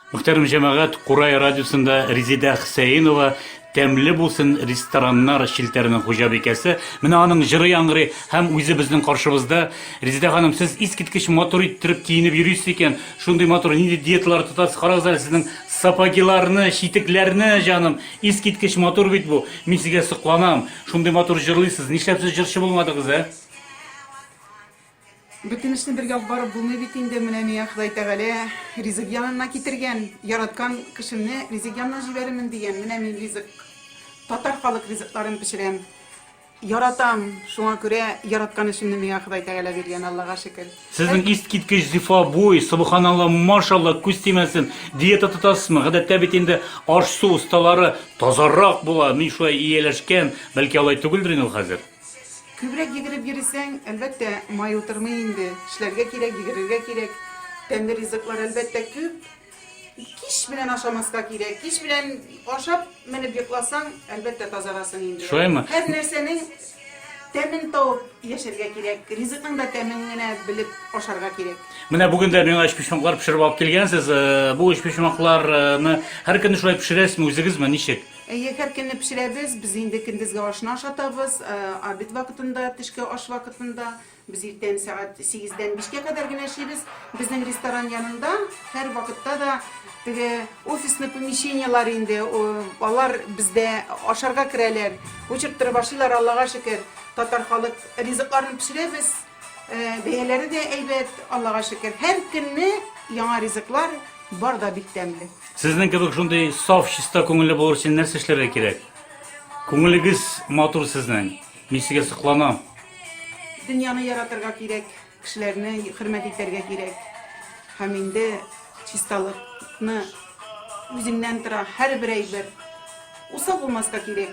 Мөхтәрәм җәмәгать, Курай радиосында Резидә Хсәенова Тәмле булсын рестораннар челтәренең хуҗабикәсе. Менә аның җыры яңгырый һәм үзе безнең каршыбызда. Резидә ханым, сез искиткеч матур иттереп киенеп йөрисез икән. Шундый матур нинди диеталар тотасыз? Карагыз әле сезнең сапогиларны, читекләрне, җаным. Искиткеч матур бит бу. Мин сезгә сокланам. Шундый матур җырлыйсыз. Нишләп сез җырчы булмадыгыз, ә? Бөтен эшне бергә алып барып булмый бит инде, менә миңа Ходай Тәгалә ризык янына китергән, яраткан кешемне ризык янына җибәрермен дигән, менә мин ризык, татар халык ризыкларын пешерәм, яратам, шуңа күрә яраткан эшемне миңа Ходай Тәгалә биргән, Аллага шөкер. Сезнең искиткеч зифа буй, собханалла, машалла, күз тимәсен. Диета тотасызмы? Гадәттә бит инде аш-су осталары тазарак була, мин шулай ияләшкән, бәлки алай түгелдер инде ул хәзер? Күбрәк йөгереп йөрисәң, әлбәттә, май утырмый инде. Эшләргә кирәк, йөгерергә кирәк. Тәмле ризыклар, әлбәттә, күп. Кич белән ашамаска кирәк. Кич белән ашап, менеп йокласаң, әлбәттә, тазарасың инде. Шулаймы? Һәр нәрсәнең тәмен табып яшәргә кирәк. Ризыкның да тәмен генә белеп ашарга кирәк. Менә бүген дә миңа өчпочмаклар пешереп алып килгәнсез. Э, бу өчпочмакларны һәркөнне шулай пешерәсезме, үзегезме, ничек? Әйе, һәр көнне пешерәбез. Без инде көндезге ашны ашатабыз, обед вакытында, төшке аш вакытында. Без иртән сәгать сигездән бишкә кадәр генә эшлибез. Безнең ресторан янында һәрвакытта да теге офисный помещениелар инде, алар бездә ашарга керәләр, очырттырып ашыйлар, Аллага шөкер. Татар халык ризыкларын пешерәбез. Бәяләре дә әйбәт, Аллага шөкер. Һәр көнне яңа ризыклар бар да бик тәмле. Сезнең кебек шундый саф, чиста күңелле булыр өчен нәрсә эшләргә кирәк? Күңелегез матур сезнең. Мин сезгә сокланам. Дөньяны яратырга кирәк, кешеләрне хөрмәт итәргә кирәк. Һәм инде чисталыкны үзеңнән тора һәрбер әйбер. Усал булмаска кирәк.